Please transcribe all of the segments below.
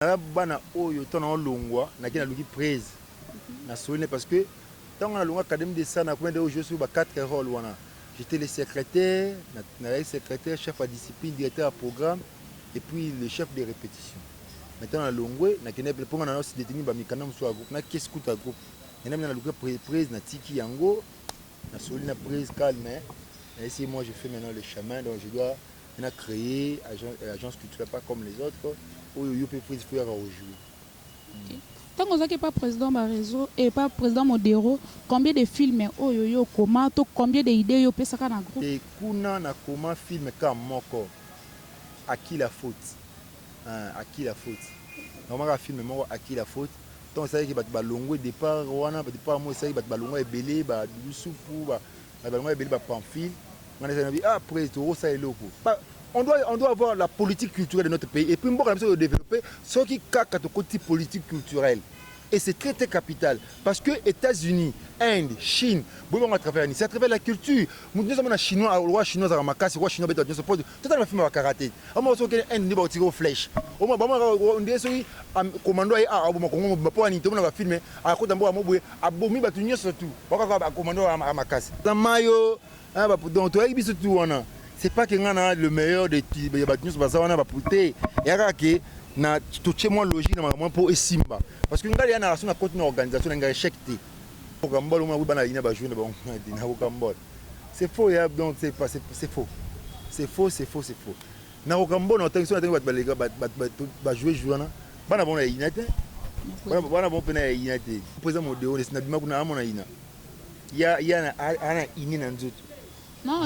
Naza bana oyo ntango na olongwa naki naluki prez nasolene parce que ntango na longa académie de sana kuna nde ojoue sur ba 4 role wana j'étais le secrétaire nazalaki secrétaire chef ya discipline directeur ya programme et puis le chef de répétition mais ntango na longwe nakende mpo nga na osi deteni ba mikanda mosusu ya groupe na kesi kuta groupe nenda mena naluka prez natiki yango Na soli na prise calme na esi moi je fais maintenant le chemin donc je dois na créer agence, euh, agence culturelle pas comme les autres oyo yo pe prise faut yaka rejouer mm. Tant que ça pas président ma réseau et pas président Modero, combien de films oyo yo comment to combien de idées yo pesa kana groupe. Et kuna na comment film ka moko à qui la faute? Hein, à qui la faute? Normalement film moko à qui la faute? Tango esalaki bato balongwe depart wana ba depart moko esalaki bato balongwa ebele ba Doudou Supu ba bato balongwa ebele ba Pamphile ngai nazali na bi ah après tokosala eloko ba on doit on doit avoir la politique culturelle de notre pays et puis mboka na biso ko développer soki kaka tokoti politique culturelle et c'est très très capital parce que États-Unis Inde Chine boyi bango à travers nini c'est à travers la culture moto nyonso amona chinois roi chinois azalaka makasi roi chinois abeta bato nyonso po Totala ba film ya ba karate. Omona soki okende Inde nde ba tireo flèche. Omona ba mona on dirait soki commando aye awa aboma Congo mobimba po ya nini tomona ba film akota mboka moko boye abomi batu nionso tout. Ba kaka ba commando ya makasi. Na mayo hein ba donc toyebi biso tout wana. C'est pas que nga na le meilleur de ya batu nionso baza wana ba te. Eya kaka que na totie mwa logique na makambo wana po esimba. Parce que nga dejà na soki nakoti na organisation na nga echec te. Rocambole omona kutu bana ya ina ba jouer na bango na Rocambole. C'est faux ya donc c'est pas c'est faux. C'est faux, c'est faux, c'est faux. Na kokambona otangi sona tangi bat balega bat bat bat ba jouer jouer wana. Bana bona ya ina te. Bana bana bon pena ya ina te. Poza modeo na bima kuna amona ina. Ya ya na ana ine na nzoto. Non,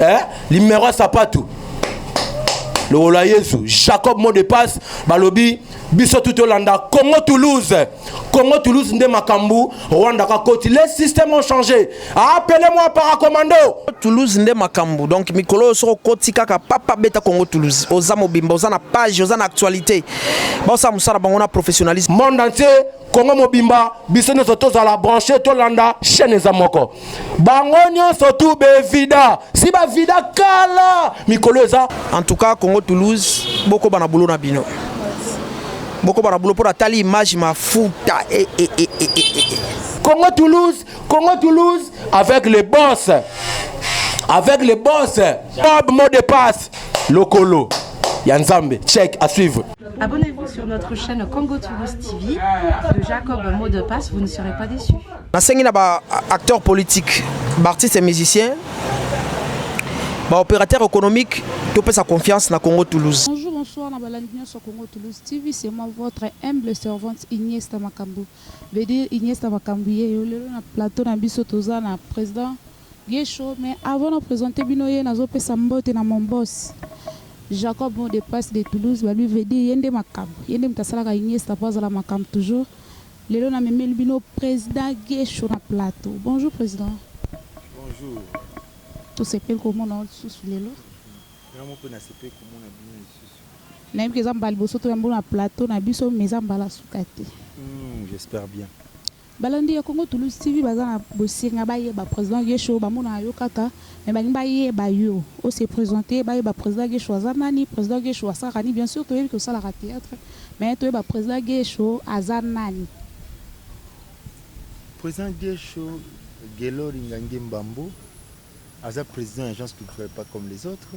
eh? limero ya sapatu lokola yesu jacob mot de passe balobi biso tu tolanda congo toulouse congo toulouse nde makambo rwanda kakoti les systèmes ont changé appele moi paracommando toulouse nde makambo donc mikolo oyo soko okoti kaka papa beta congo toulouse oza mobimba oza na page oza na actualité baosala mosala bango na professionnalisme monde entier Congo mobimba biso nyonso tozala branche tolanda chaîne eza moko bango nyonso tu bevida si bavida kala mikolo eza en tout cas Congo Toulouse bokoba na boulot na bino bokoba na boulot mpo natali image mafuta e, e, e, e, e, e. Congo Toulouse Congo Toulouse avec les boss avec les boss Bob mot de passe lokolo ya nzambe check à suivre Abonnez-vous sur notre chaîne Congo Tourist TV de Jacob Mot de Passe, vous ne serez pas déçus. nasengi na baacteur politique baartiste ya musicien baopérateur économique topesa confiance na congo toulouse Bonjour, bonsoir, na balandi nyonso Congo Toulouse TV, c'est moi votre humble servante Iniesta Makambu. Veut dire Iniesta Makambu yeyo lelo na plateau na biso toza na président Guesho mais avant na presenter bino ye nazo pesa mbote na mon boss Jacob mot de passe de Toulouse ba lui veut dire ye nde makambu ye nde mutu asalaka Iniesta po azala makambu toujours lelo na memeli bino president Guesho na plateau bonjour president. Bonjour. To sepeli ko mona yo lisusu lelo. Nga moko pe na sepeli ko mona bino lisusu. Na yebi ke eza mbala liboso to yamba yo na plateau na biso mais eza mbala suka te. Hum j'espère bien. Balandi ya Congo Toulouse TV baza na bosenga bayeba president Guesho bamonaka yo kaka mais balingi bayeba yo o se presenter bayeba president Guesho aza nani president Guesho asalaka nini bien sur toyebi ke osalaka theatre mais toyeba president Guesho aza nani. President Guesho Guelor Ingangimbanbu aza president ya agence culturelle pas comme les autres.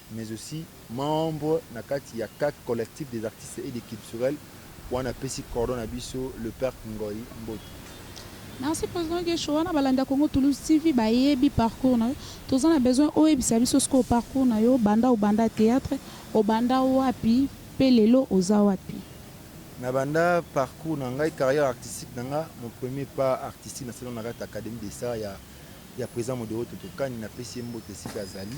mais aussi membre na kati ya CAC, Collectif des artistes et des culturels, wana apesi cordon na biso le père Ngoy mbote. Merci president Guesho, wana balandi ya Congo Toulouse TV bayebi parcours na yo, toza na besoin oyebisa biso sikoyo parcours na yo banda obanda theatre, obanda wapi pe lelo oza wapi? Na banda parcours na ngai, carrière artistique na nga, mon premier pas artistique na salelaki na kati ya Academie des arts ya ya president Modero Toto Kani, na pesi ye mbote esika azali.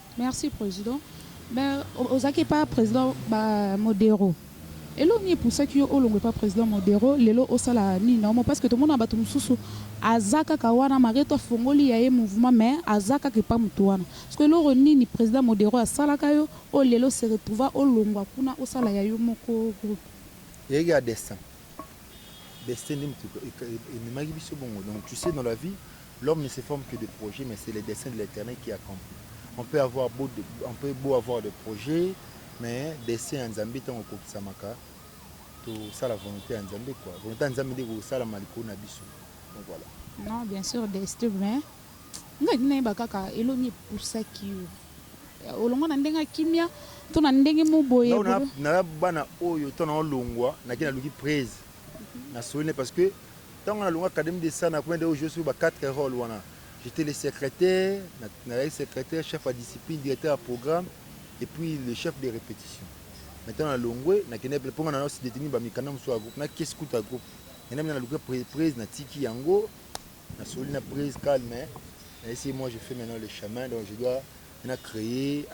Merci president mais ozalaki epa president ba modero eloko nini epusaki yo olongwa epa president modero lelo osala nini na omo parce que tomonaka batu mususu aza kaka wana malgre tout afongoli ya ye mouvement mais aza kaka epa mutu wana sikoyo eloko nini president modero asalaka yo oyo lelo se retrouva olongwa kuna osala ya yo moko groupe Ezalaki ya destin, destin nde mutu ememaki biso bongo donc tu sais dans la vie L'homme ne se forme que de projets mais c'est le dessein de l'Eternel qui accompli. On peut avoir beau, on peut beau avoir des projets mais dessein ya Nzambe tango ekokisamaka tosala volonte ya Nzambe quoi. Volonte ya Nzambe nde ekosalama likolo na biso. Donc voilà. Non, bien sûr, Destin, mais nga kina yeba kaka eloni epusaki yo olongwa na ndenge ya kimia to na ndenge mo boye Nao na- na bana oyo to na olongwa nake naluki praise nasoli ne parce que Tango na longa academie de Sana kuna nde o jouer sur ba quatre roles wana. J'etais le secretaire, nazalaki secretaire, chef ya discipline, directeur ya programme et puis le chef de repetition. Mais tango na longwe na kendaki po nga na se detenir ba mikanda mosusu ya groupe, na kesi kutu ya groupe. Ngai na luka prise na tiki yango, na soli na prise calme, na esi moi je fais maintenant le chemin donc je dois na créer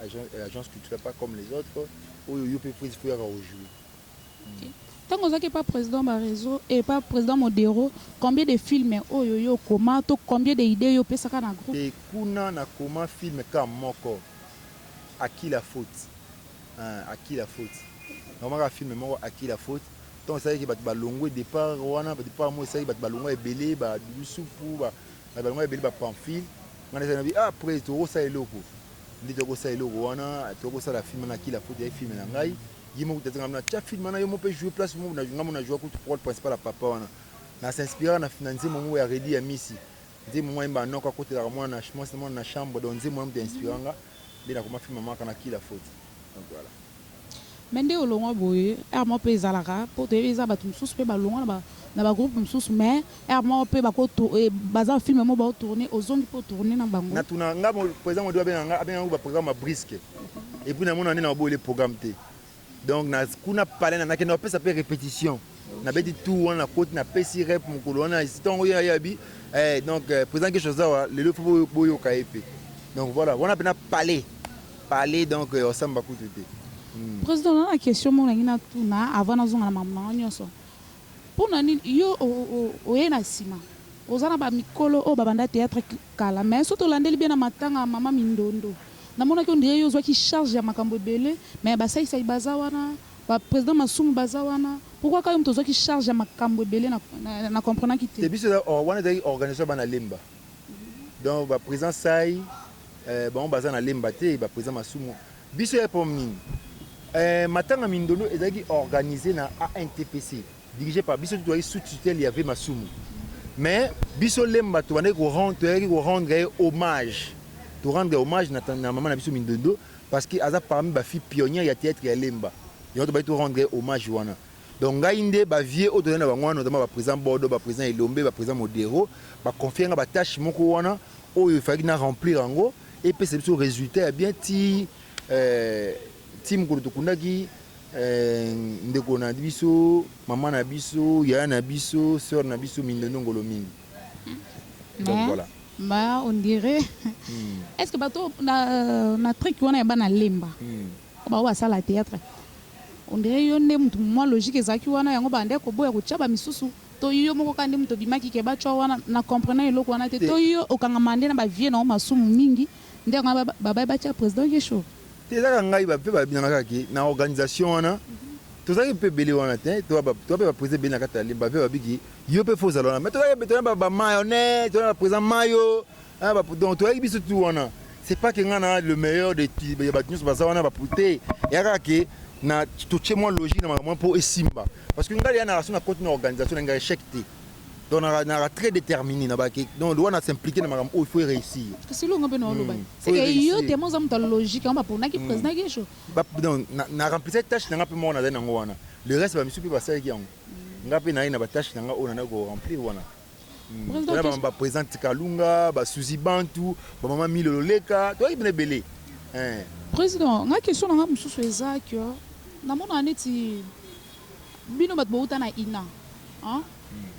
agence culturelle pas comme les autres oyo yo pe prise faut yaka o jouer. Tango ozalaki epa president Barezo et epa president Modero combien de film oyo yo okoma to combien de idee yo opesaka na groupe? Te kuna na koma film kka moko à qui la faute eeh à qui la faute na koma kaka film moko à qui la faute tango esalaki ke batu ba longwe depart wana depart moko esalaki batu ba longwa ebele ba doudou supu ba batu ba longwa ebele ba pamphile nga nazalaki na bi ah après toko sala eloko nde toko sala eloko wana toko sala film wana à qui la faute ezalaki film na ngai Ye moko tata nga na tia film wana yo moko pe jouer place moko na nga mona jouer kutu role principal ya papa wana na s'inspira na na nzembo moko ya Reddy ya Misi nzembo mwa yemba noko akotelaka mwana na mwasi mwana na chambre donc nzembo wana moto inspira nga nde nakoma film mama kana kila faute donc voilà mais nde olongwa boye heure moko pe ezalaka po toyebi eza batu mosusu pe balongwa na ba na ba groupe mosusu mais Heure moko pe bako eh, baza film moko bao tourner ozongi po tourner na bango. Na tuna nga president modi abenga nga abenga ngo ba programme ya brisque. Et puis na mona nde na boye le programme te. Donc na kuna palais na nakenda opesa pe repetition. Na beti tout wana koti na pesi rep mukolo wana isitongo ya yabi. Eh donc euh, president quelque chose awa lelo fo boyo ka epe. Donc voilà, wana pena palais. Palais donc euh, osamba kutu te. Hmm. President na question mona ngina tuna avant na zonga na maman nyonso. Pona nini yo oye na sima? Oza na ba mikolo oyo ba banda theatre kala mais soki tolandeli bien na matanga ya mama mindondo na monaki on dirait yo ozwaki charge ya makambo ebele mais ba saisai baza wana ba president masumu baza wana pourquoi kaka yo mutu ozwaki charge ya makambu ebele na comprenaki te. Te biso wana ezalaki organisation ya bana lemba donc ba president sai bango baza na lemba te ba president masumu Biso ya pom nini? Eh, matanga mindondo ezalaki organise na ANTPC, dirige par biso tozalaki sous tutelle ya Vieux Masumu. Mais biso Lemba tobandaki ko rendre, toyaki ko rendre ye hommage. To rendre hommage na, na mama na biso Mindondo parce que aza parmi ba filles pionnières ya theatre ya Lemba. Yango tobandaki to rendre ye hommage wana. Donc ngai nde ba vieux oyo tozali na bango wana notamment ba president Bodo, ba president Elombe, ba president Modero ba confier ngai ba tâches moko wana oyo il fallaki na remplir yango epesa biso resultat ya bien tii eh, tii mokolo tokundaki eh, ndeko na biso, mama na biso, yaya na biso, sœur na biso Mindondo Ngolo mingi. Donc Mais, voilà. mais on dirait est-ce que bato na, na trick wana ya bana lemba Hmm. Ba oyo ba sala theatre on dirait yo nde mutu mua logique ezalaki wana yango ba bandaki ko boya ko tia ba misusu to yo moko kaka nde mutu obimaki ke ba tua wana na comprenant eloko wana te to yo okangama nde na ba vieux na yo masumu mingi nde yango wana ba baye ba tia president guesho. Te eza kaka ngai ba pe ba bina nga kaka ke na organisation wana tozalaki pe ebele wana te to ba to ba pe ba president ebele na kati ya lemba pe ba biki yo pe faut ozala wana mais tozalaki pe tozalaki ba mayo ne tozalaki na ba president mayo Ah ba donc toi biso tout wana c'est pas que ngana le meilleur de ya bato nyonso baza wana bapute yaka ke na totie mwa logique na makambo mpo esimba parce que ngai ya na raso na koti na organisation na ngai échec te donc naka très déterminé na bake donc lowa na s'impliquer na makambo oyo oh, faut réussir kasi elongo mpe naoloba hmm, c'est que yo te moza moto ya logique yango baponaki hmm. président kesho donc na remplisa tâche na ngai mpe moko nazali nango wana le reste bamisusu mpe basalaki yango hmm. ngai mpe naye na batâche na ngai oyo oh, nanaki koremplir wana Hmm. Tuna ba ba president Tikalunga, ba Suzy Bantu, ba mama Milo Loleka, toi ibne belé. Hein. Président, nga question na nga mususu eza que na mona neti bino bat bouta na ina. Hein? Hmm.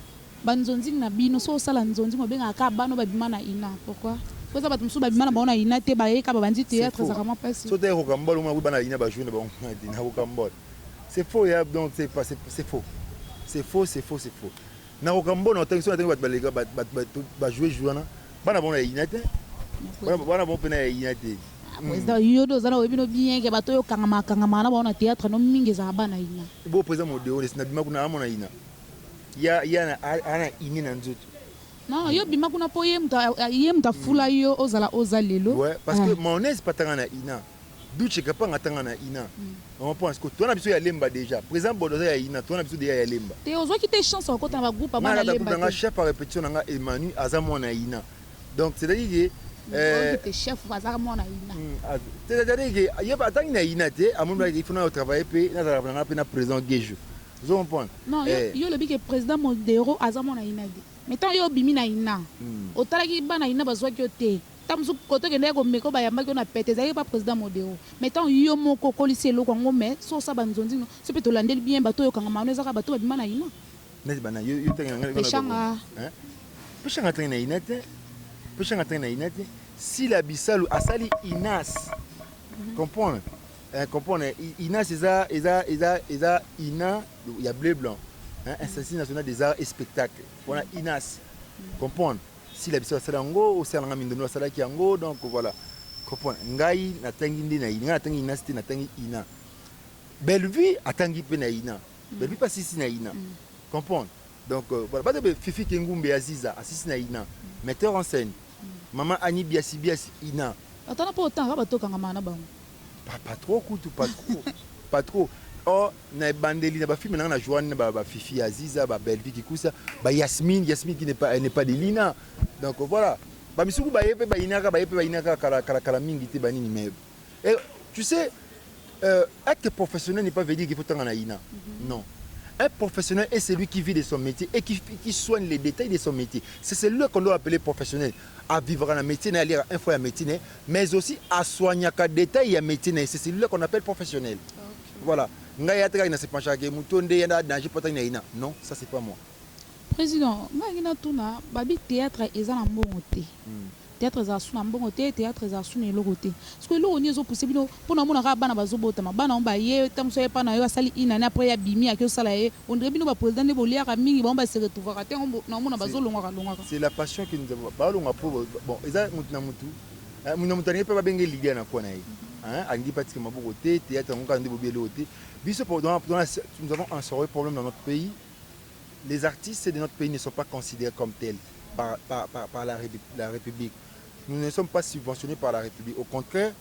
Ba nzonzing na bino so sala nzonzing obenga ka bano ba bima na ina. Pourquoi? Ko za bat mususu ba bima na baona ina te ba yeka ba bandi théâtre za vraiment pas. So te ko kambolo mwa bana ina ba journée ba ina ko kambolo. C'est faux, donc c'est pas c'est faux. C'est faux, c'est faux, c'est faux. Na kokamwa mbono atangi soki atangi bato baleka bato ba jouer jour wana bana bango na yayina te bana bango mpe na yayina te ah, président hmm. yo nde oza na oyebi no bien ke bato oyo okangama akangamaka na bango na théâtre no mingi ezalaka bana yina bo président modeo nesi na bima kuna amona yina ya ya ana ine na nzoto non yo bima kuna mpo ye moto afula yo ozala oza lelo ouais parce que ah. maonese patanga na ina Doutshe kapanga ata nga na ina maman po asko toana biso ya lemba dejà president bodo aza ya ina toana biso dejà ya lemba te ozwaki te chance ya kokota na ba groupe ya bana lemba te nga na kata groupe na nga chef ya repetition na nga Emanu aza mwana ya ina donc c'est à dire que Euh, atangi na ina te amonaki il faut na travailler mpe nazala na ngai mpe na président gejo ozo comprendre non eh. yo olobi ke président modero aza mwana ina te mais ntango yo obimi na ina hmm. otalaki bana ina bazwaki yo te Tango mosusu cote okendaki ko meka oyo ba yambaki yo na pete ezalaki epa president modero mais tango yo moko okolisi eloko yango mais soki osala ba nzonzing no biso pe tolandeli bien batu oyo kangama wana eza kaka batu oyo babima na ina Neti ba nani? Yo tangi na ngai nako Peshanga. Hein? Peshanga atangi na ina te. Peshanga atangi na ina te. Sila Bisalu asali inas. Comprendre? Eh, comprendre? I- Inas eza eza eza eza ina ya bleu blanc. Hein? Institut national des arts et spectacles. Wana inas. Comprendre? Sila bisalu asala yango osala nga mindondo asalaki yango donc voilà comprendre ngai natangi nde na ina natangi ina site natangi ina Bellevue atangi pe na ina mm. Bellevue pa sisi na ina mm. comprendre donc euh, voilà bato be Fifi Kengumbe Aziza asisi na ina mm. metteur en scène maman Annie Biasi Biasi ina atana po otanga bato kanga mana bango Ba patro kutu patro patro oh na ebandeli na ba film na nga na joan na ba, ba fifi ya ziza ba bellevue kikusa ba yasmine yasmine qui n'est pas elle n'est pas de lina donc voilà ba misuku ba ye pe ba inaka ba ye pe ba inaka kala kala kala mingi te ba nini mais et tu sais euh, être professionnel n'est pas veut dire qu'il faut tanga na ina mm -hmm. non Un professionnel est celui qui vit de son métier et qui, qui soigne les détails de son métier. C'est celui qu'on doit appeler professionnel. À vivre dans le métier, à lire un fois un métier, mais aussi a soignaka detail ya metier na ye c'est celui là qu'on appelle professionnel voilà ngai ata kaka na se penchaka ke moto nde ye na danger potaki na ina non ça c'est pas moi President, nga ngi na tuna, babi theatre eza na mbongo te. Theatre ezala su na mbongo te, theatre ezala su na eloko te. Siko eloko nini ezo pousser bino Po na mona kaka bana bazo botama bana yango baye tango mosusu aye epa na yo asali une annee après ye abimi ake osala ye on dirait bino ba president nde boliaka mingi bango ba se retrouvaka te yango nao mona bazo longwaka longwaka. C'est la passion qui nous a bao longwa po bon eza mutu na mutu mutu na mutu alingi pe ba benga ye leader na coin na ye hein alingi pe atika maboko te theatre yango kaka nde bobi eloko te biso po dans nous avons un sorieux problème dans notre pays les artistes de notre pays ne sont pas considere comme tel par par par la la republique nous ne sommes pas subventionne par la republique au contraire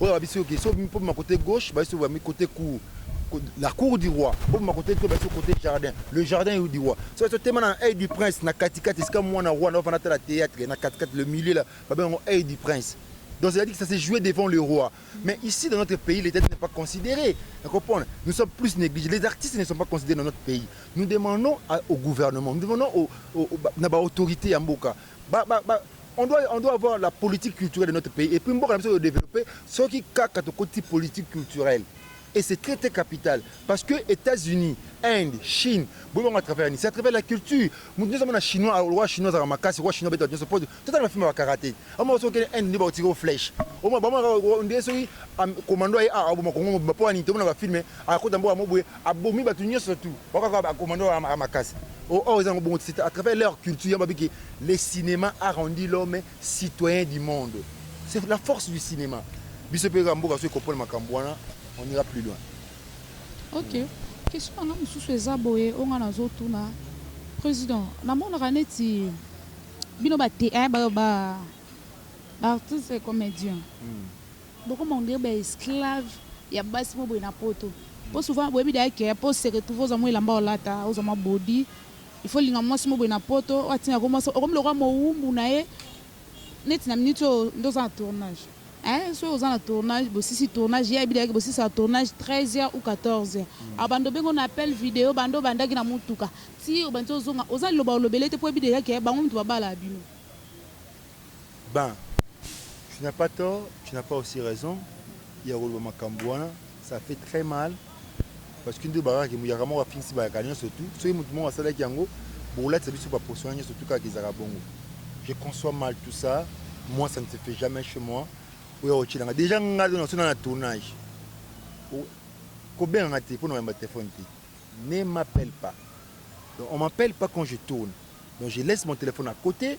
Oyo abisi yo geso po bima cote gauche baisi ba mi cote cour la cour du roi po bima cote to baisi cote jardin le jardin yo du roi so so tema na aide du prince na katikati esika mwana roi na ofana tala théâtre na katikati le milieu la ba bengo aide du prince Donc c'est-à-dire que ça s'est joué devant le roi. Mais ici, dans notre pays, l'État n'est pas considéré. Vous comprenez Nous sommes plus négligés. Les artistes ne sont pas considérés dans notre pays. Nous demandons à, au gouvernement, nous demandons aux, aux, aux, aux autorités à Mboka Ba ba ba on doit on doit avoir la politique culturelle de notre pays et puis mboka na biso de developper soki kaka to koti politique culturelle et c'est très très capital parce que Etats-Unis Inde Chine bo bango à travers ni c'est à travers la culture mutu nyoso mona chinois au roi chinois zaka makasi roi chinois beta nyoso pose tata na film ba karaté amo soki Inde ni ba tiko flèche au moins ba mona on dirait soki commando a a bo makongo ba po ani to mona ba film a kota mboka mobwe Abomi batu nioso tout ba kaka ba commando ya makasi oh or eza yango bongo c'est à travers leur culture yango ba biki le cinema a rendu l'homme citoyen du monde c'est la force du cinema biso pe kaka mboka soki comprendre makambu wana on ira plus loin. Ok question nanga mususu eza boye oyo nga nazo tuna president na monaka neti bino ba te eh ba ba artiste et comedien. Bokoma on dirait ba esclaves ya basi moko boye na poto po souvent boyebi d'ailleurs que po o se retrouver ozua mua elamba olata ozua mua body il faut olinga muasi moko boye na poto oyo atindaka yo muasi okomi lokola mowumbu na ye neti na minute oyo nde oza na tournage eh soki oza na tournage bosisi tournage ye ayebi d'ailleurs que bosisaka tournage 13 heures ou 14 heures abanda obengi yo na appel video banda obandaki na mutuka ti obandi ozonga oza liloba olobela ye te po oyebi dejà que bango mutu babalaka bino. Ben tu n'as pas tort tu n'as pas aussi raison ya koloba makambu wana ça fait très mal parce que nde bakaka ke muyaka moko afingisi bayaka nionso tout soki mutu moko asalaki yango bokolatisa biso ba poso wana nionso tout kaka ezalaka bongo je conçois mal tout ça moi ça ne se fait jamais chez moi oya kotielanga dejà nga do naso na na tournage kobenga nga te pona oyamba telefone te ne m'appelle pas donc on m'appelle pas quand je tourne donc je laisse mon téléphone à côté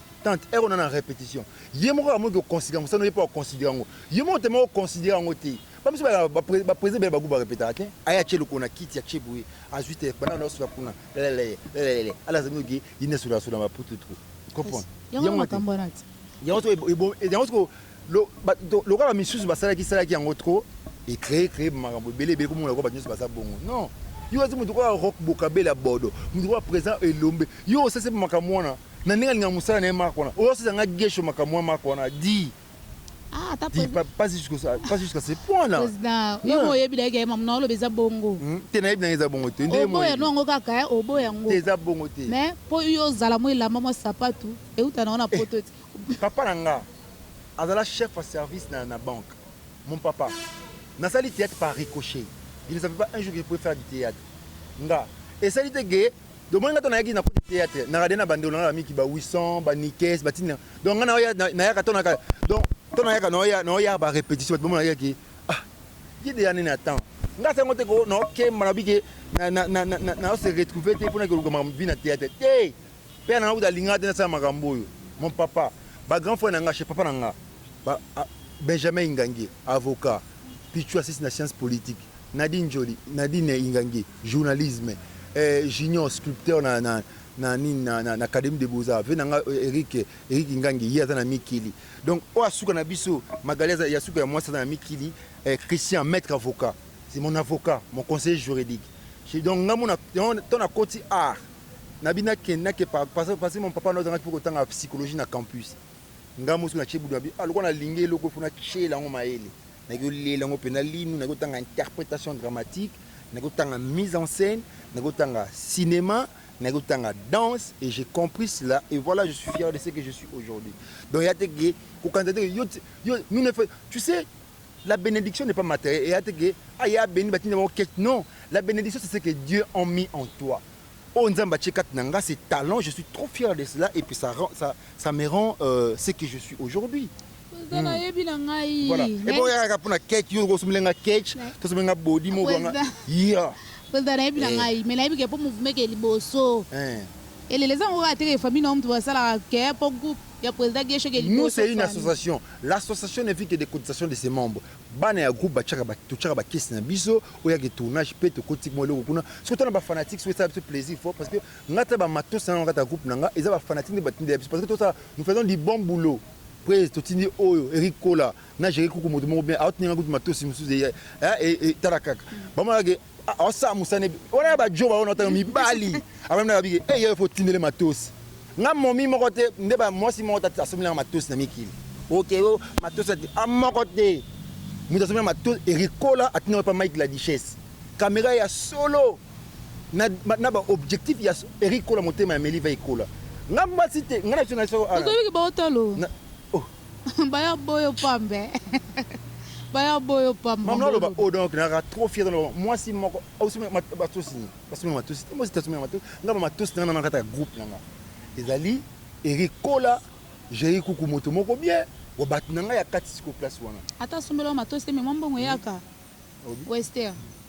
Tante ero na na repetition. Ye moko amoki ko considère mosala no ye pe o considère yango. Yo moko te moko o considère yango te. Ba misusu ba ba ba president ebele ba gout ba repetaka te. Aye atie lokolo na kiti atie boye azui te banda na osula kuna lelele lelele ala zali noki ye nde asola sola ba putut ko comprendre yango te yango soko ebom yango soko lo ba lokola ba misusu ba salaki salaki yango trop e cree cree makambo ebele ebele komona lokola ba nyoso baza bongo non yo azi moto koa rock bokabela bodo moto koa president elombe yo osese makambo wana Na ndenge alingaka musala na ye marque wana. Ozo sesa nga guesho makambo ya marque wana dit Ah ata dit president. pas jusque pas jusque ce point là. President yo mo oyebi nayo ke mamu na oloba eza bongo. Te nayebi nanga eza bongo te nde ye mo oyebi. Oboya no yango kaka hein oboya yango. Te eza bongo te. Mais po yo ozala mo elamba mo sapatu ewuta na yo na poto te. Papa na nga azala chef ya service na na banque mon papa na sali theatre par ricochet je ne savais pas un jour que je pouvais faire du theatre nga esali te ke Donc moi ngato nayaki na cote théâtre na radena bande olanga miki ba 800 ba nikes ba tina donc ngana oya na yaka tona ka donc tona yaka na oya na oya ba répétition ba mona yaki ah ye de année na temps nga sango te ko no ke mana bike na na na na na se retrouver te pona ke luka ma vie na théâtre te père na uta linga te na sa makambo yo mon papa ba grand frère na nga chez papa na nga ba ah, Benjamin Ingangi avocat Pichou assiste na science politique Nadine Njoli, Nadine Ingange, journalisme, eh, Junior sculpteur na, na, na nini na, na, na Académie des Beaux-Arts, vie na nga eh, Eric, eh, Eric Ingange, ye aza na Mikili. Donc, oyo asuka na biso, Magali aza ya suka ya mwasi aza na Mikili, eh, Christian, maître avocat, c'est mon avocat, mon conseiller juridique. Je- Donc, nga mona, to na koti art, na bi nakende nake pa- parce parce que mon papa na ozangaki mpe kotanga psychologie na campus nga mosu na tie budu na bi ah, lokola nalingi eloko fo natyela yango mayele Nayaki kolela yango mpenza linu, nayaki kotanga interpretation dramatique, nayaki kotanga mise en scène, nayaki kotanga cinema, nayaki kotanga danse et j'ai compris cela et voilà je suis fier de ce que je suis aujourd'hui. Donc eya te ke kokanisa te ke yo yo nous ne fait tu sais la bénédiction n'est pas matérielle eya te ke ah ya béni batinda bango quête non la bénédiction c'est ce que Dieu a mis en toi oyo oh, nzambe atie kati na nga c'est talent je suis trop fier de cela et puis ça ça ça me rend euh, ce que je suis aujourd'hui President hmm. nayebi na ngai. Voilà. Et bon yaka pona cake yo ko sumile nga cake, to sumile nga body mo nga. Yeah. President nayebi na eh. ngai, mais nayebi ke po mouvement ke liboso. Eh. Eleleza ngo ka teke famille na mtu basala ke po groupe ya president Gesho ke liboso. Nous c'est une association. L'association ne vit que des cotisations de ses membres. bana ya groupe batiaka totiaka bakesi na biso oyo yaki tournage mpe tokotika mwa eloko kuna soki tana bafanatique soki esala biso plaisir fort parce que ngai ta bamatosi na ngai kata groupe na ngai eza bafanatique nde batindela biso parce que tosala nous faisons du bon boulot Praise totindi oyo Eric Kola na Jerry Kuku moto moko bien aotindi nga kutu matosi mosusu eye eh, eh, tala kaka bamona ke aosala mosane wana ya bajo baona otanga mibali abamina babike eye eh, fo tindele matosi nga momi moko te nde mwasi moko te asombeli nga matosi na mikili oke o matosi ati a ah, moko te moto asombeli nga matosi Eric Kola atindi nga pa Mike la Duchesse kamera ya solo Na na ba objectif ya Eric kola motema ya meli va ekola nga mwasi te nga na biso na biso ala Otoyoki baotalo na oh baya boyo pambe baya boyo pambe mamu na loba oh donc na ka trop fier na loba mwasi moko au sima batosi basumi matosi te mwasi tasumi matosi nga ba matosi na na kata ya groupe na nga ezali Eric kola Jerry kuku moto moko bien wa bato na nga ya kati siko place wana ata sombela matosi te mais mwa mbongo eyaka hmm? wester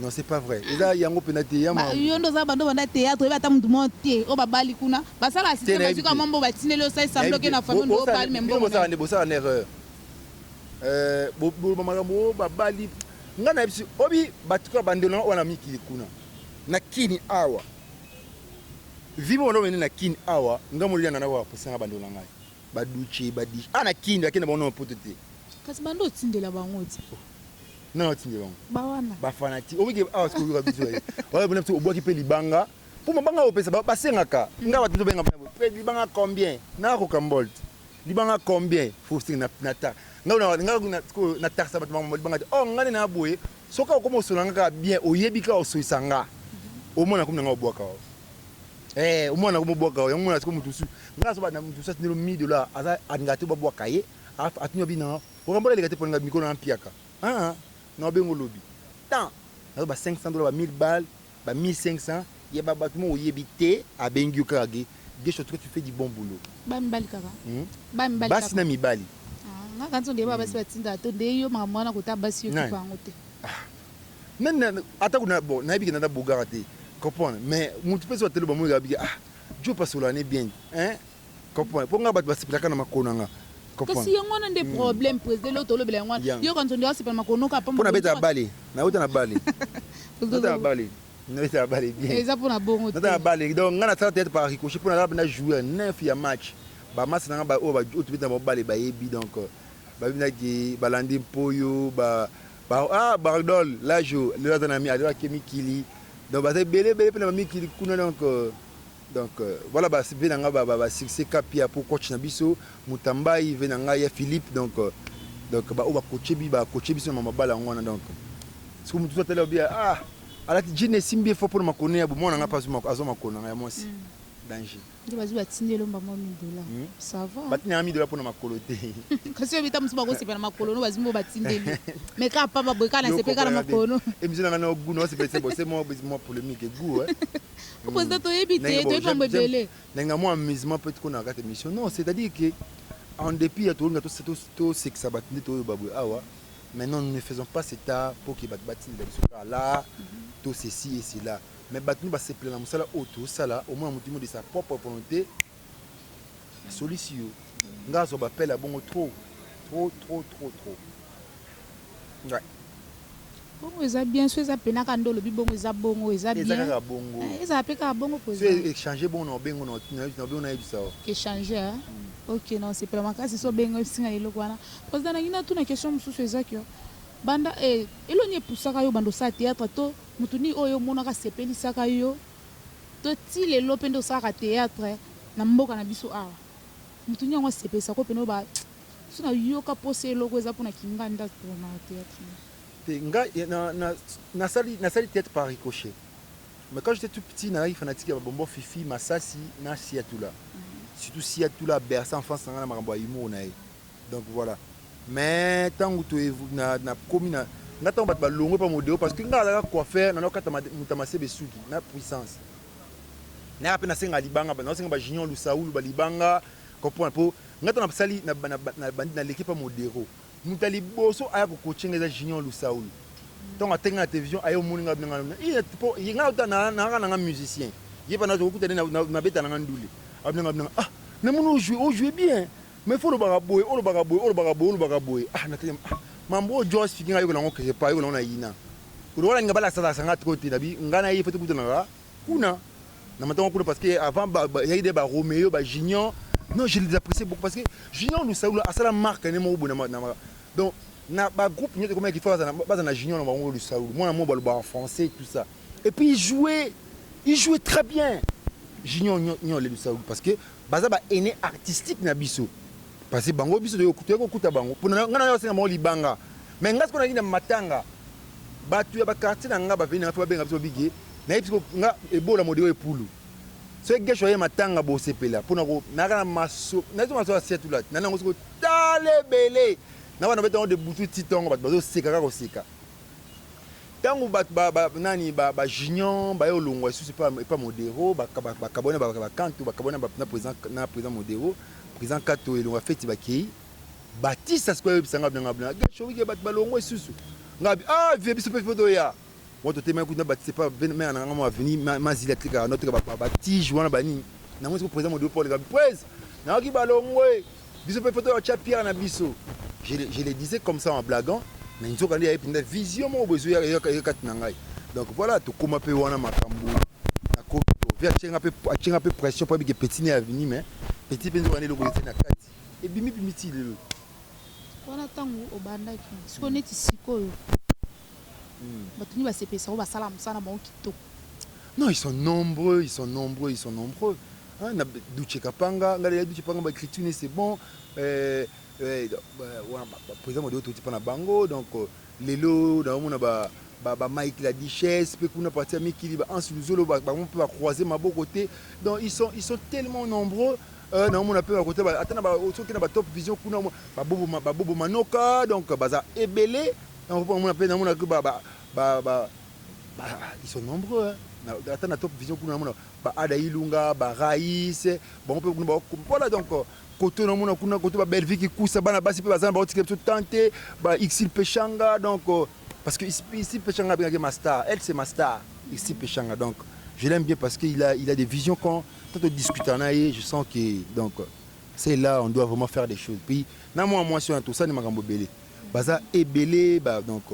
Non, c'est pas vrai. Eza yango pena te ya ma. Yo nde oza bando banda théâtre oyebi ata mutu mo te o babali kuna basala assiste bazwi ka mambo batineli osali semblant ke na famille ndo obali mais mbongo na bosala na erreur euh boloba makambo o babali nga na biso obi batika bandelo na wana mikili kuna na kini awa vivo wana omene na kini awa nga molia nga na wa posanga bandelo na ngai baduche badish ana kini akenda bango na poto te kasi bando otindela bango te nani atindi bango ba wana ba fanati omi ke awa sikoyo yoka biso ye wala bina biso obwaki pe libanga po mabanga opesa ba basengaka nga ba tuzo benga pe libanga combien na ko kambolt libanga combien faut sing na na ta nga na nga na sikoyo na tarsa ba bango libanga te oh nga na boye soka okoma osola nga bien oyebi ka osoisa nga omona komi na nga obwaka wa eh omona komi obwaka wa yango mona sikoyo mutusu nga so ba na mutusu atindelo mi dollars aza adinga te ba bwaka ye atindelo bi na Orambola eleka te pona nga mikolo na mpiaka aa na obenga olobi temps nazo ba 500 dollars ba 1000 balles ba 1500 ya ba batu moko oyebi te abengi yo kaka ge guesho en tout cas tu fais du bon boulot Ba mibali kaka? Hum Ba mibali kaka? basi na mibali Ah, nga kanisi ondeyeba ba basi batindaka to nde yo makambo wana kota basi yo Nani? kipa yango te. ah nani na ata ko na bon na yebi ke na na bogara te comprendre mais mutu pe soki atali oba moni kaka bi ke ah djo pasola ne bien hein Comprends po nga batu basepelaka na makolo na nga. Kasi yango wana nde problème president eloko tolobela yango wana yo kanzondi asepela makolo noka pamba pona beta bale na uta na bale uta na bale nabeta na bale bien eza pona bongo nabeta na bale donc nga nasala théâtre par ricochet pona naba na jouer neuf ya match ba match na nga ba oyo ba oyo tobeta na bango bale bayebi donc babinaki balandi mpoyo ba ba ah bardol lajo lelo aza na mi azo akemi kili donc baza ebele ebele mpe na bamikili kuna donc Donc voilà ba ve na nga ba ba succès kapia pour coach na biso mutambayi ve na nga ya Philippe donc donc ba oba coache bi ba coache biso na mabala yango wana donc ce que mutu atali obia ah alati jean esimbi fo pona makone ya bomona nga pasu mako azo makona ya mwasi mm. danger nde bazwi batindi elomba mwa midola hmm? sava batindi yanga midola mpona makolo te kasi oyo bita mosusu bakosepela na makolo no bazwi mbo batindeli me kaka pamba boye kaka nasepeli kaka na makolo no emission nanga no gu naosepelisa bose mwa polémique gu Mmh. Président toyebi te, toyebi mambo ebele. Nanga mwa amusement peut kona kati mission. Non, c'est-à-dire que en dépit ya tolinga to to to sekisa bat nde toyo babwe awa. Maintenant nous ne faisons pas cet art pour que bat bat nda biso là tout ceci et cela. Mais bat nous ba sepela musala oto sala au moins mutumo de sa propre volonté. Nasolisi yo nga azwa ba appel ya bongo trop trop trop trop trop ouais. Bongo eza bien so eza pena ka nde olobi bongo eza bongo eza bien eza kaka bongo eh, eza pe kaka bongo ko eza so échanger bongo na bengo na na bongo na yebisa yo échanger hein? mm. OK non c'est pas makasi so bengo singa eloko wana président na ngina tuna question mususu eza que banda eh eloni epusaka yo bando sa théâtre to mutuni oyo monaka sepelisaka yo To ti lelo pe nde osalaka theatre na mboka na biso awa? Mutu nini yango asepelisa ko pene oyo ba biso na yoka posa eloko eza pona kinganda to na theatre na yo. Te nga na na nasali nasali theatre par ricochet mais quand j'etais tout petit nazalaki fanatique ya ba bonbon fifi, masasi na siatula surtout siatula a berce enfance na nga na makambo ya humour na ye. Donc voilà. Mais tangu to na na komi na nga tangu bato balongwe pa modeo parce que nga alaka coiffeur na nakata muta masebe suki na puissance naya pe nasenga libanga na senga ba junior lusaulu ba libanga comprendre po nga tangu nasali na na bandi na leki pa modero muta liboso aya ko coacher nga eza junior lusaulu tangu atenga na television ayo moni nga benga na iya po nga uta na na nga na nga musicien yeba na zo kuta na na beta na nga ndule abnanga abnanga ah na moni o jouer o jouer bien Mais faut olobaka boye, olobaka boye, olobaka boye, olobaka boye ah na tali ah mambo oyo Joe asiki nga yo na ngo quelque part yo na ngo na yina kutu wala linga ba lakisa lakisa nga trop te na bi nga na ye faut to kutanaka kuna na matanga kuna parce que avant ba ba yaki de ba Romeo ba Junior non je les apprécie beaucoup parce que Junior Lusaula asala marque ne moko bona na donc na ba groupe nyoto komaki faut bazana bazana Junior na bango Lusaula mwana moko baloba en français tout ça et puis il jouait il jouait très bien Junior nyo nyo le Lusaula parce que Baza ba aines artistiques na biso parce que bango biso toye kokuta bango pona nga naye asenga bango libanga mais nga sikoyo naye na matanga batu ya ba quartier na nga ba venir pe babenga biso babigi naye biso nga ebola modeo epulu soki gesho aye matanga bosepela pona ko naka na maso naye maso ya setulat na nango sikoyo tale bele na wana betango de butu titongo batu bazo seka kaka koseka Tangu batu ba ba nani ba ba junion baye olongwa lisusu epa epa modero ba ba kabwani na ba kantu ba kabwani na president na president modero president kato elonga feti bakeyi batisa sikoyo ayebisa nga bina nga bina gashowike batu balongwa lisusu nga bi ah vie biso pe foto ya mwa totemaki kutu na batisa epa mena na nga mwa aveni mazili atekaka na teka ba ba tige wana ba nini nango sikoyo president modero paul kabi prez nayoki balongwe Biso pe photo ya tia pierre na biso. Je, je le disais comme ça en blaguant, mais nzoka nde ya epinda vision moko bozo ya ya kati na ngai. Donc voilà, tokoma pe wana makambo na koto. Via chenga pe chenga pe pression pa bike petit ne avini mais petit pe nzoka nde loko yete na kati. Et bimi bimi ti lelo. Wana tangu obandaki, siko neti sikoyo. Batu nini basepelisa yo basala musala na bango kitoko. Non ils sont nombreux ils sont nombreux ils sont nombreux hein na Doutshe Kapanga nga deja Doutshe Panga ba ecriture ne c'est bon euh, euh, wana ba, ba président Madibo toti pa na bango donc euh, lelo na omona ba ba, ba Mike la Duchesse pe kuna parti ya Mikili ba Hans Luzolo ba, bango pe ba croiser maboko te donc ils sont ils sont tellement nombreux euh, na omona pe ba côté ba ata na ba soki na ba top vision kuna ba bobo ba bobo manoka donc baza ebele Yango po namona pe namona que ba ba ba ils sont nombreux ata na top vision kuna namona ba ada ilunga ba rais bango pe kuna ba voilà donc koto namona kuna koto ba bellevue kikusa bana basi pe baza na baotikela biso temps te ba ixil peshanga donc parce que ixil peshanga abengaki ma star elle c'est ma star ixil peshanga donc je l'aime bien parce que il a il a des visions quand quand on discute na ye je sens que donc c'est là on doit vraiment faire des choses puis na mwa mwasi wana tosani makambo ebele baza ebele ba donc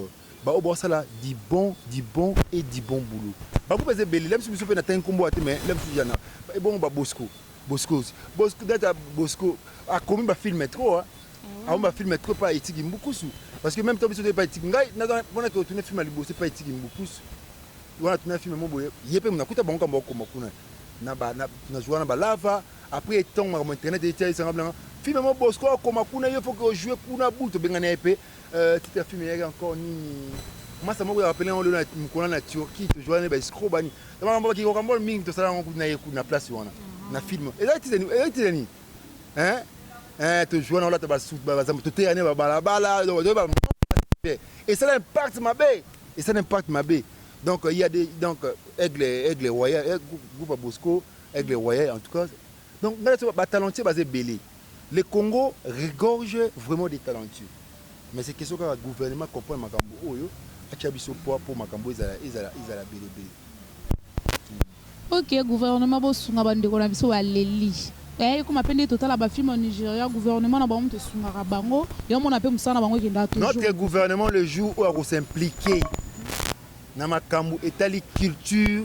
ba oyo baosala du bon du bon et du bon boulot bango baza ebele la biso biso pe na tangi kombo wana te mais la biso jana ebongo ba bosco boscos bosco data bosco akomi ba film trop hein akomi ba film trop pa etiki mbukusu parce que même temps biso pa etiki ngai naza wana ke otuna film ya liboso pa etiki mbukusu wana tuna film mo boye ye pe munakuta bango kambo akoma kuna na ba na na joana ba lava Après tango makambo ya internet eye tia sanga bilanga film yango Bosco akoma kuna yo faut que o jouer kuna butu obengana ye pe euh, titre ya film eyaki encore nini masa moko ya rappele yango lelo na mokona na Turquie to jouer na ba escroc bani na makambo ba kiko kambol mingi tosala yango kuna ye kuna place wana na film ezali titre nini ezali titre nini hein hein to jouer na olata ba suit ba bazambe to teya ne ba balabala donc ba et ça impact mabe et ça impact mabe donc il y a des donc aigle aigle royal eh, groupe Bosco Aigle royal en tout cas donc nga nazo ba talentueux baza ebele le Congo regorge vraiment des talentueux mais c'est question kaka gouvernement comprendre makambo oyo atia biso poids mpo makambo ezala ezala ezala bele bele. Ok gouvernement bosunga ba ndeko na biso baleli eh ekoma pe nde totala ba film ya Nigeria gouvernement na bango mutu esungaka bango yo omona pe musala na bango ekendaka toujours Notre gouvernement le jour oyo ako s'impliquer na makambo etali culture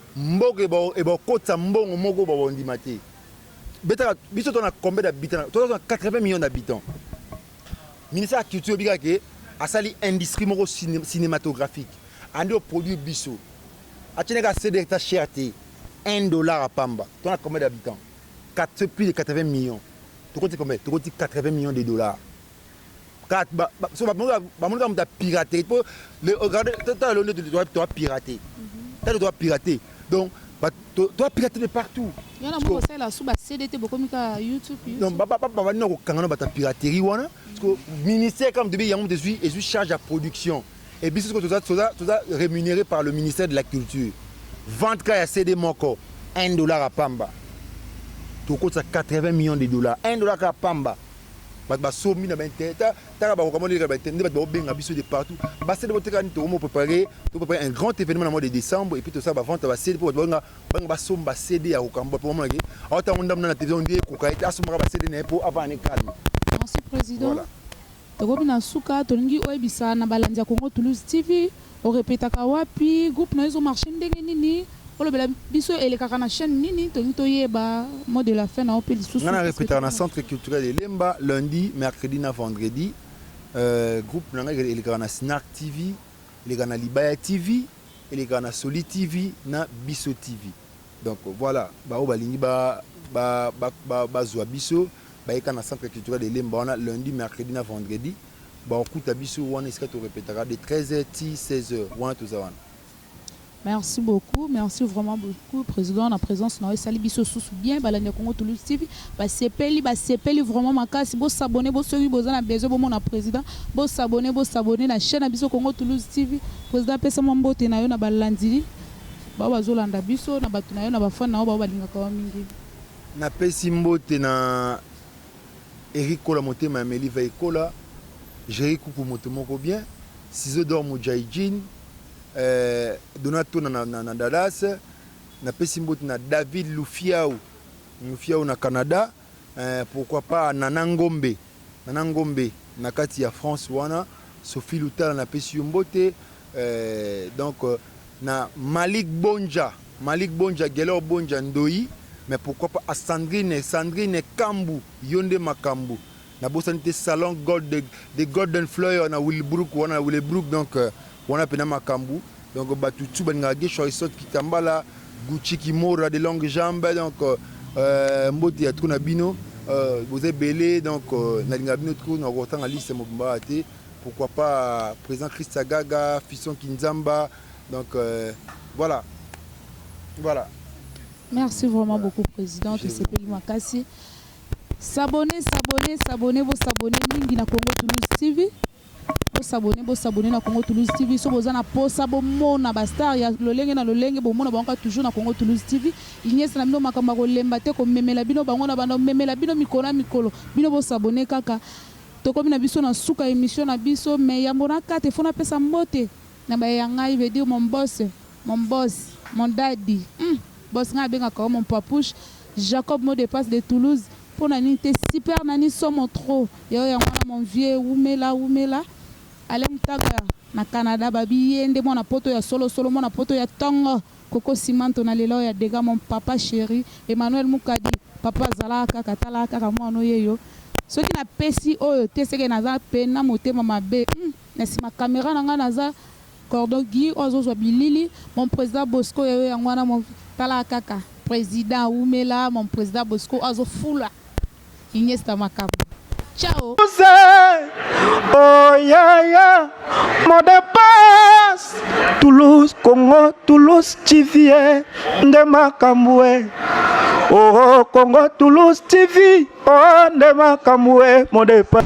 Mboka ebakokotisa mbongo moko baondima te betaka biso to na combien d'habitants to na 80 millions d'habitants ministère ya culture bika ke asali industrie moko cinématographique andi au produit biso atine ka CD ta cher te 1 dollar à pamba to na combien d'habitants 4 plus de 80 millions tokoti combien tokoti 80 millions de dollars carte ba, ba, so bamoni bamoni kaka moto ya pirate po le regarde tala leo nde toa pirate tala toa pirate donc toa pirate de partout yona moko sala su ba CD te bokomi ka YouTube non ba ba ba ba nako kanga no bata piraterie wana parce que ministère comme de yango de suis et suis charge à production et biso ce que toza toza toza rémunéré par le ministère de la culture vente ka ya CD moko 1 dollar à pamba tokotisa 80 millions de dollars 1 dollar ka pamba Batu ba sombi na ba inter ta taka ba kokamwa leka ba inter nde batu ba benga biso de partout ba sede boteka ni tokomo preparer to preparer un grand événement na mois de décembre et puis tosala ba vente ba sede po batu ba benga ba benga ba somba sede ya kokamwa po mona ke awa tango ndamu na télévision nde ekoka ete asomaka ba sede na ye po avanda ne calme merci président voilà tokomi na suka tolingi oyebisa na balandi ya Congo Toulouse TV O repetaka wapi? Groupe nayo ezo marcher ndenge nini? Olobela biso elekaka na chaine nini? Tolingi toyeba mot de la fin na yo pe lisusu. Nga na repetaka na centre culturel de Lemba lundi, mercredi na vendredi. Groupe na nga elekaka na Snart TV, elekaka na Libaya TV, elekaka na Soli TV na Biso TV. Donc voila ba oyo balingi ba zua biso bayeka na centre culturel de Lemba wana lundi, mercredi na vendredi. Bakokuta biso wana esika to repetaka de 13 heures ti 16 heures wana toza wana. Merci beaucoup merci vraiment beaucoup president na presence na yo esali biso susu bien balandi ya Congo Toulouse TV basepeli basepeli vraiment makasi bo s'abonner bo soki boza na besoin bomona president bo s'abonner bo s'abonner na chaine na biso Congo Toulouse TV president apesa mwa mbote na yo na balandi ba oyo bazolanda biso na bato na yo na ba fan na yo ba oyo balingaka yo mingi. Napesi mbote na. Eric kola motema ya Meli veille kola Jerry kuku mutu moko bien Ciseaux d'or mudjayi djin eh Dona tona na na na Dallas Na pesi mbote na David lufiawu lufiawu na Canada eh Pourquoi pas Nana ngombe Nana ngombe na kati ya France wana Sophie lutala na pesi yo mbote eh Donc na Malik Bondja Malik Bondja Guelor Bondja Ndoyi mais pourquoi pas a Sandrine Sandrine Kambu yo nde makambu na bosani te salon gold the golden flower na Willbrook wana na Willebrook donc wana pena makambu donc batu tout balingaka Guesho Aristote Kitambala Gucci Kimora de longue jambe donc euh, mbote ya trop na bino euh, boza ebele donc euh, nalingaka bino trop na kotanga liste mobimba te Pourquoi pas president Christa Gaga, Fisson Kinzamba, donc euh, voilà. Voilà. Merci vraiment voilà. beaucoup president, tosepeli makasi. S'abonner, s'abonner, s'abonner, vous s'abonner mingi na Congo Toulouse TV. bosabone bosabone na congo toulouse tv so boza na posa bomona bastar ya lolenge na lolenge bomona bango kaka toujours na congo toulouse tv inyesa na bino makambo ya kolemba te komemela bino bango na banda komemela bino mikolo na mikolo bino bosabone kaka Tokomi na biso na suka ya emission na biso mais yambo na kata il faut napesa mbote na baye ya ngai veut dire mon boss, mon boss, mon daddy hum boss ngai abengaka yo mon papouche Jacob mot de passe de Toulouse pona nini te super Nani somo trop ya yo yango wana mon vieux wumela wumela Alain mutaga na Canada babi ye nde mwana poto ya solo solo mwana poto ya tongo. Koko Simon to na lela oya dega mon papa cheri Emmanuel Mukadi papa zalaka kaka talaka kaka muana oyeyo soki na pesi oyo te seke naza pena motema mabe hum na sima camera na nga naza cordon Guy oyo azo zua bilili mon president Bosco ya yo yango wana mon talaka kaka president wumelaa mon president Bosco oyo azo fula Iniesta makambo. Ciao. Oh yeah yeah, mon dépasse. Toulouse, Congo, Toulouse, TV, eh. nde makambo eh. Oh, oh Congo, Toulouse, TV, oh nde makambo eh, mon dépasse.